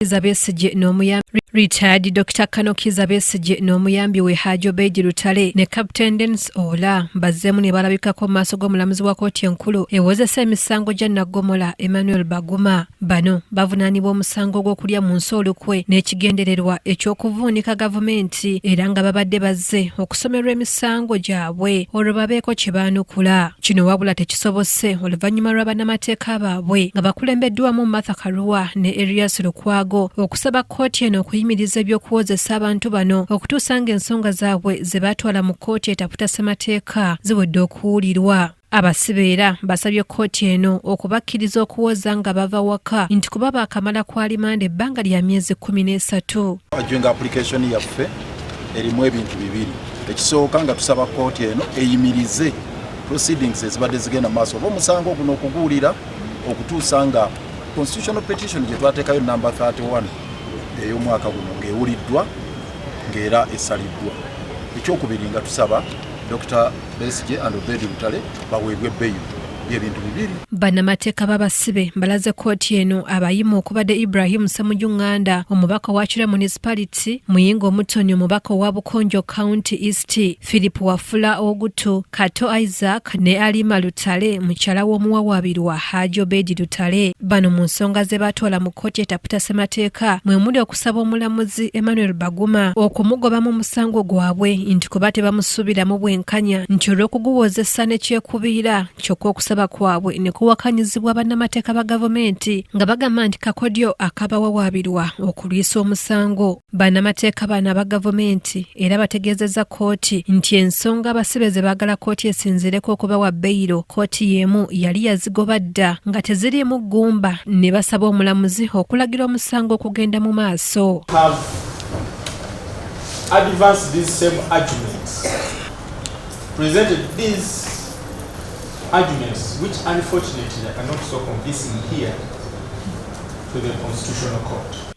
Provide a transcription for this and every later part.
Kiza Besigye n'omuyambi retired Dr Kano Kiza Besigye n'omuyambi we Haji Obeid Lutale ne Captain Dennis Ola bazzeemu ne balabikako mu maaso g'omulamuzi wa kooti enkulu ewozesa emisango gya naggomola Emmanuel Baguma. Bano bavunaanibwa omusango gw'okulya mu nsi olukwe n'ekigendererwa eky'okuvuunika gavumenti era nga babadde bazze okusomerwa emisango gyabwe olwo babeeko kye baanukula. Kino wabula tekis kisobose oluvannyuma lwa bannamateeka baabwe nga bakulembeddwamu Martha Karua ne Erias Lukwago okusaba kkooti eno okuyimiriza eby'okuwozesa abantu bano okutuusa ng'ensonga zaabwe ze baatwala mu kkooti etaputa ssemateeka ziwedde okuwulirwa abasibe era basabye kkooti eno okubakkiriza okuwoza nga bava waka nti kuba baakamala ku alimanda ebbanga lya myezi kkumi n'esatu ajunga application yaffe erimu ebintu bibiri ekisooka nga tusaba kkooti eno eyimirize proceedings ezibadde zigenda maaso oba omusango guno okuguwulira okutuusa nga constitutional petition gye twateekayo namba 31 ey'omwaka guno ng'ewuliddwa ng'era esaliddwa ekyokubiri nga tusaba dr besige and obedi butale baweebwe beyo byebintu bibiri bannamateeka babasibe mbalaze kooti eno abayimu okubadde ibrahim semuju nganda omubaka wa kira municipality muyinga omutoni omubaka owa bukonjo county east Philip Wafula Ogutu, Kato Isaac ne Alima Lutale mukyala w'omuwawaabirwa Haji Obedi Lutale. Bano mu nsonga ze baatwala mu kkooti etaputa ssemateeka mwe muli okusaba omulamuzi Emmanuel Baguma okumugobamu omusango gwabwe nti kuba tebamusuubiramu bwenkanya nti olw'okuguwozesa ne kyekubiira kyokka okusaba kwabwe ne kuwakanyizibwa bannamateeka ba gavumenti nga bagamba nti kakodyo akabawawaabirwa okulwisa omusango. Bannamateeka bano aba gavumenti era bategeezezza kkooti nti ensonga abasibe ze baagala kkooti esinziireko okubawa beyiro kkooti y'emu yali yazigoba dda nga teziriimu ggumba ne basaba omulamuzi okulagira omusango okugenda mu maaso to the Constitutional Court.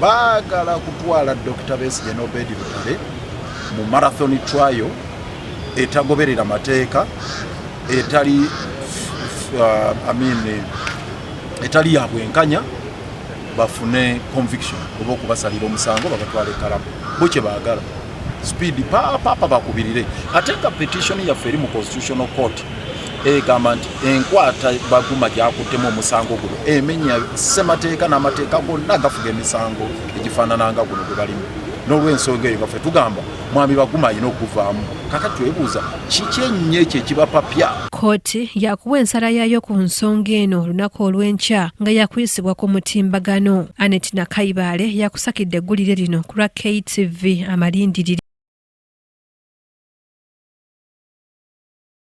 baagala kutwala dr besigye nobedi lutale mu marathon trial etagoberera mateeka etali uh, I mean, eh, etali ya bwenkanya bafune conviction oba okubasalira omusango babatwala ekalamu bo kye baagala speed paapapa bakubirire ate nga petition yaffe eri mu constitutional court egamba nti enkwata baguma gyakuttemu omusango guno emenya ssemateeka n'amateeka gonna agafuga emisango egifaanananga guno gwe balimu n'olwensonga eyo gaffe tugamba mwami baguma alina okuvaamu kaka twebuuza kiki ennyo ekyo ekibapapya kkooti yakuwa ensala yaayo ku nsonga eno olunaku olw'enkya nga yakuyisibwa ku mutimbagano anet nakayibaale yakusakidde eggulire lino ku lwa ktv amalindirire